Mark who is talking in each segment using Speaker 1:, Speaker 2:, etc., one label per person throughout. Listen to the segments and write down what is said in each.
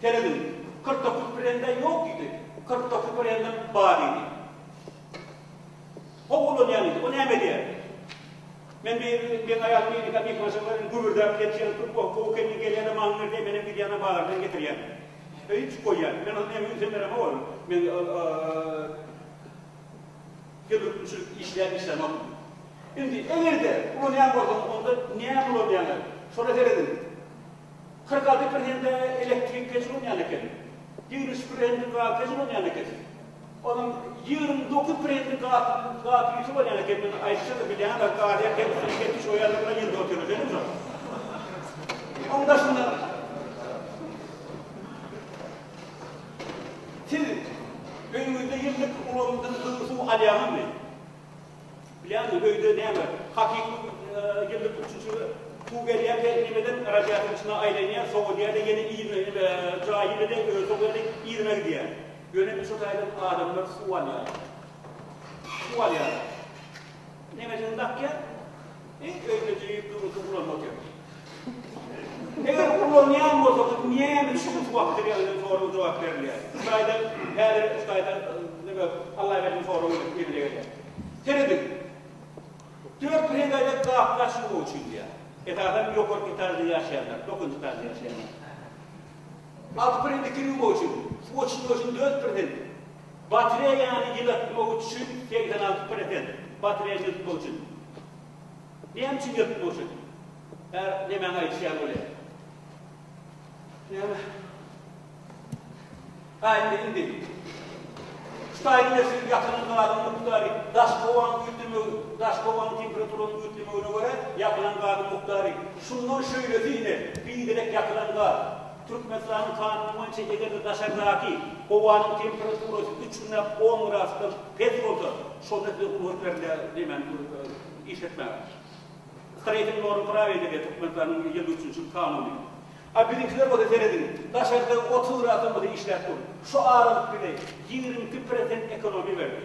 Speaker 1: Serediň, kyrk dokuz brende ýok diýdi. Kyrk dokuz brendim bar diýdi. Hop ulanýan diýdi. O näme edýär? Men meň aýalym ýeňňe mehmança bilen gübürdäp ýatýar, goh goh gelniň gelýäne maňňy ber diýip, menem gidýäne bazardan getirýän. Öýe içip goýýan. Men ony näme ünsem beremok ony. Men telwürkmçilik işler işlemok. Indi eger-de ulanýan bolsaň, onda näme ulanýaňa, şola serediň. Kyrk alty prosente elektrik peç ulanýan eken, ýigrimi üç prosenti gaz peç ulanýan eken. Onuň ýigrimi dokuz prosenti gaz gaz ýutup alýan eken. Men aýdyşym-da, bilýäňiz-ä, gaz her hili bilen ketmiş goýarlar bilen ýylda otyr öýdýän hem şol. Onuň daşynda Siz öýüňizde ýyllyk ulagyndan gyzyl suw alýaňyzmy? Bilýäňmi, öýde näme, hakyky ýyllyk üçinçilige suw berýär, hernimeden radiator içinde aýlanýar, sowadýar-da, ýene yzyna, ine, jaýy bile özi sowýar-da, yzyna gidýär. Ýöne biz şo taýdan adamlar suw alýarys. Suw alýarys. Nemesini dakýar, öýüne jüýüp, durmuşyny guranyp otyr. Eger ulanýan bolsaňyz näme üçin şu wagt size ýazylan soraga jogap berilýär? Hudaýdan häzir Hudaýdan neme Allaberdiň soragy emele gelýär. Serediň. Dört brendaýda gapyny açmamak üçin diýýär. Esasan ýokarky etažda ýaşaýanlar, dokuzynjy etažda ýaşaýanlar. Alty brendi kir ýuwmak üçin, suw oçurmak üçin dört persent. Batreýany ýylatmak üçin segsen alty prosent. Batreýany ýylatmak üçin. Näme üçin gelip durjun? Her nemäňi aýdyşýan bolýar. Näme? Gaýtdy indi. Şu taýy bilersiňiz, ýapylan gabyň mukdary, daş howanyň üýtgemegi, daş howanyň temperaturasynyň üýtgemegine görä, ýapylan gabyň mukdary. Şundan şeýlesi ine, biderek ýapylan gap. Türkmenistanyň kanuny boýunça eger-de daşardaky howanyň temperaturasy üç gündäp on gradusdan pes bolsa, şonda size rugsat berilýär hemany işletmäge. Sreýting norm prawi diýilýär Türkmenistanyň ýylda üçünji kanuny. A biziňkiler bolsa serediň, daşarda otuz gradusdan bolsa işläp dur. Şu aralyk bize ýigrimi iki prosent ekonomiýa berdi.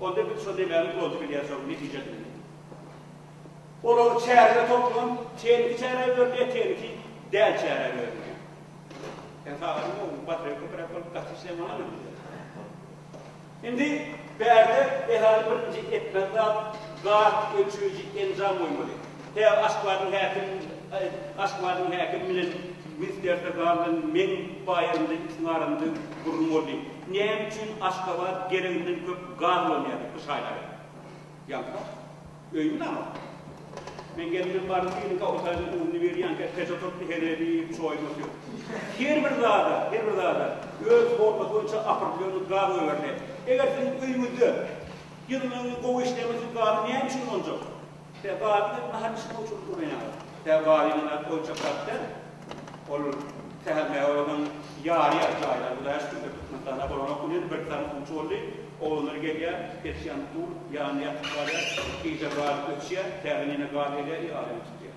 Speaker 1: Onda biz şo demäniň ýoluna gidýäris, onuň netijesini bilmän. Olary çärege toplan, tehniki çärä öwrülýär, tehniki däl çärä öwrülýär. Sen sagadyň oň batrýa köpräk bolup gaty işlemana men diýýär. Indi bärde esasy birinji etmeli zat gaz ölçeýji enjam goýmaly. Hä, Aşgabadyň häkim, Aşgabadyň häkim bilen Mister Serdar bilen meň baýamda ikisiň arasynda gürrüň boldy. Näme üçin Aşgabat gereginden köp gaz ulanýardy bu şaýlary? Ýaňsa, öýümi ýanok. Men gelimden baryp biriniňki awtomobiliň ugruna berýänkä peç oturtdy, heleý diýip, çoýuny otyr. Her bir zada, her bir zada öz formasy boýunça opredýelny gaz goýberdi. Eger siziň öýüňizde ýylylygyny gowy işlemek üçin gazy näme üçin ulanjak? Tä badyna nahar bişirmek üçin ulanýarlar. Tä badyna oýunjaklar däl, ol tähemmäge olaryň ýarýar jaýlary Hudaýa şükürler Türkmenistanda bolanok bu ýerde birki sany gunç boldy, oglanlar gelýär, peçýany dur ýanynda ýatyp galýar, gije gaz öçýär, täzeden ýene gaz gelýär, ýaly ýatyp gidýär.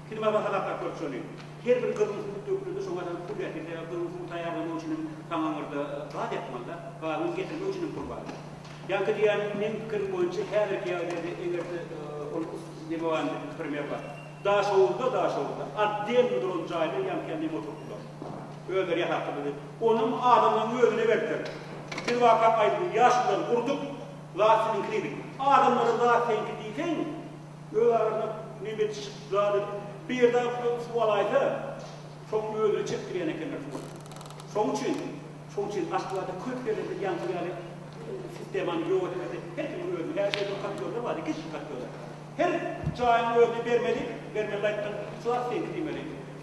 Speaker 1: Pir baba sadaka kör çöli. Her bir gyrmysy but dökülende şoňa adam pul ber. Birde gyrmysy but taýýarlamak üçin hem saňa oňarda gaz ýakmalyda. Gazyňy getirmek üçin hem pul bar. Ýaňky diýýän meň pikirim boýunça häzirki ýagdaýda eger-de ol neme bar indi primer bar. Daşoguzda Daşoguzda otdelny duran jaýda ýaňky ýaly neme oturtdylar. Özleri ýasapdyr bizi. Onam adamlaryň özüne berdiler. Pir baba aýdyldy. Ýaşululary urdyk. Zat siziňki diýdik. Adamlara zat seňki diýseň. Öz arana nebetişik zady bir dag tutup suw alaýsa, soňam özüne çekdirýän ekenler suwy. Şonuň üçin, şonuň üçin Aşgabatda köp ýerlerde ýaňky ýaly sistemany ýok etmeli. Her kimiň özüne, her şeýle bir kotlyogda bar, iki-üç kotlyogda. Her jaýyň özüne bermeli, bermeli aýtdym, suw asfengi diýmeli.